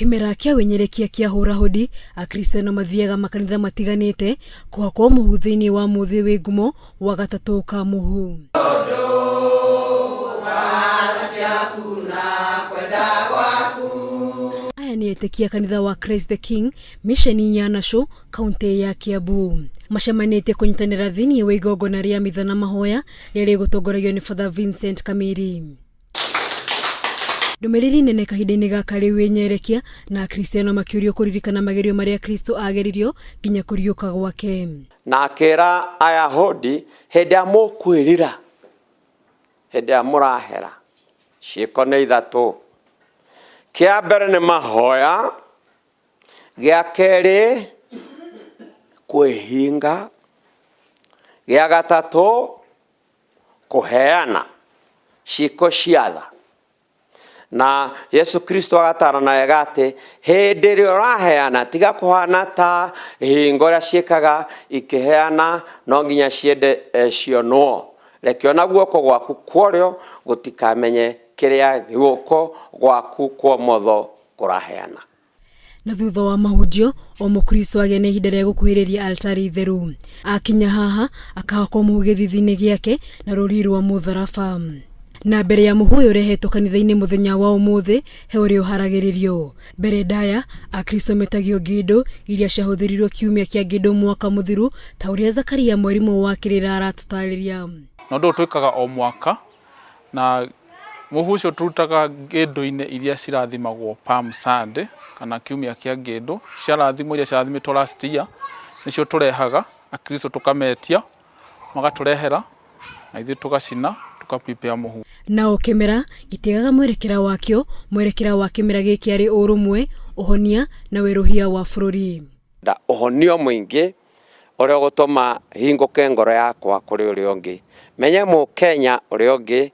kĩmera kĩa wĩnyerekia kĩa hũra hũdi akristiano mathiaga makanitha matiganĩte kũhakwo mũhu thĩinĩ wa mũthĩ wĩ ngumo wa gatatũ ka mũhu aya nĩ etĩkia kanitha wa christ the king misheni ya nacũ kaunti ya Kiambu macemanĩtie kũnyitanĩra thĩinĩ wa igongona rĩa mitha na mahoya rĩrĩ gũtongoragio nĩ Father Vincent Kamiri. Ndũmĩrĩri nene kahinda-inĩ gaka rĩu ĩnyerekia na Akristiano makĩũrio kũririkana magerio marĩa Kristo ageririo nginya kũriũka gwake. Na akĩra Ayahudi, hĩndĩ ya mũkwĩrira, hĩndĩ ya mũrahera, ciĩko nĩ ithatũ. Kĩa mbere nĩ mahoya, gĩa kerĩ kwĩhinga gĩa gatatũ kũheana ciĩko cia tha na yesu kristo agatarana wega atĩ hĩndĩ ĩrĩa ũraheana tiga kũhana ta hingo ũrĩa ciĩkaga ikĩheana no nginya ciende eh, cionwo rekio na guoko gwaku kworĩo gũtikamenye kĩrĩa guoko gwaku kwa motho kũraheana. Na thutha wa mahunjio, o Mũkristo agĩa na ihinda rĩa gũkuhĩrĩria altari itheru. Akinya haha, akahakwo mũhu gĩthithi-inĩ gĩake na rũrii rwa mũtharaba. Na mbere ya mũhu ũyũ ũrehetwo kanitha-inĩ mũthenya wa ũmũthĩ, he ũrĩa ũharagĩrĩrio. Mbere ndaya, Akristo metagio ngĩndũ, iria ciahũthĩrirwo kiumia kĩa ngĩndũ mwaka mũthiru, ta ũrĩa Zakaria mwarimũ wa kĩrĩra aratũtarĩria. Na ũndũ ũyũ twĩkaga o mwaka. Na mũhu ũcio tũrutaga ngĩndũ-inĩ iria cirathimagwo Palm Sunday kana kiumia kĩa ngĩndũ, ciarathimwo iria ciarathimĩtwo last year, nĩcio tũrehaga Akristo tũkametia, magatũrehera na ithuĩ tũgacina tũka prepare mũhu. Na o kĩmera gĩtiagaga mwerekera wakĩo, mwerekera wa kĩmera gĩkĩ arĩ ũrũmwe, ũhonia na werũhia wa bũrũri. Nda ũhonio mũingĩ. ũrĩa ũgũtũma hingũke ngoro yakwa kũrĩ ũrĩa ũngĩ. Menye Mũkenya ũrĩa ũngĩ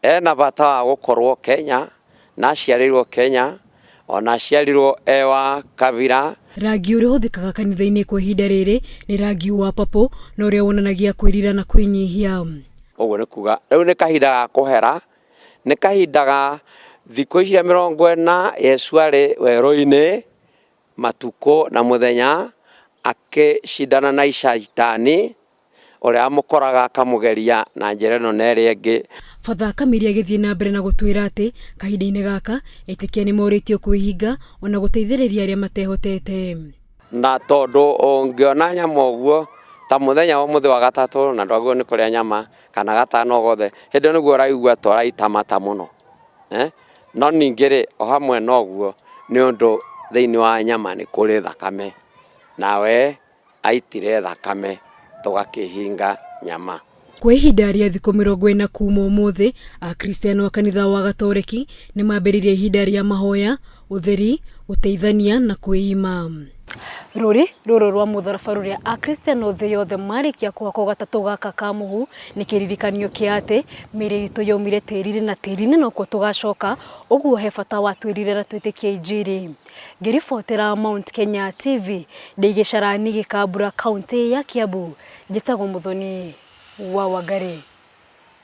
ena bata wa gũkorwo Kenya na aciarĩirwo Kenya ona aciarirwo e wa kabira. Rangi ũrĩa ũhũthĩkaga kanitha-inĩ kwa ihinda rĩrĩ nĩ rangi wa papũ na ũrĩa wonanagia kwĩrira na kwĩnyihia. Ũguo nĩ kuga rĩu nĩ kahinda ga kũhera, nĩ kahinda ga thikũ iria mĩrongo ĩna Yesu arĩ werũ-inĩ Matukũ na mũthenya akĩcindana na Shaitani, ũrĩa wamũkoraga akamũgeria na njĩra ĩno na ĩrĩa ĩngĩ. Father Akamiri agĩthiĩ na mbere na gũtwĩra atĩ kahinda-inĩ gaka etĩkia nĩ morĩtio kwĩhinga o na gũteithĩrĩria arĩa matehotete. Na tondũ ũngĩona nyama ũguo, ta mũthenya wa ũmũthĩ wa gatatũ na ndwagĩrĩirwo nĩ kũrĩa nyama kana gatano o gothe, hĩndĩ ĩyo nĩguo ũraigua ta ũraita mata mũno. No ningĩ-rĩ, o hamwe na ũguo, nĩ ũndũ thĩinĩ wa nyama nĩ kũrĩ thakame, na we aitire thakame, tũgakĩhinga nyama. Kwa ihinda rĩa thikũ mĩrongo ĩna kuuma ũmũthĩ, Akristiano a kanitha wa Gatoreki nĩ mambĩrĩria ihinda rĩa mahoya, ũtheri, gũteithania, na kwĩima. Rũri rũrũ rwa mũtharaba rũrĩa Akristiano thĩ yothe marĩkia kũhakwo gatatũ gaka ka mũhu nĩ kĩririkanio kĩa atĩ mĩĩrĩ itũ yaumire tĩri-inĩ na tĩri-inĩ nokuo tũgacoka, ũguo he bata wa twĩrire na twĩtĩkie injiri. Ngĩribotera Mount Kenya TV ndĩ gĩcarainĩ Gĩkambura kauntĩ ya Kiambu, njĩtagwo Mũthoni wa Wangari.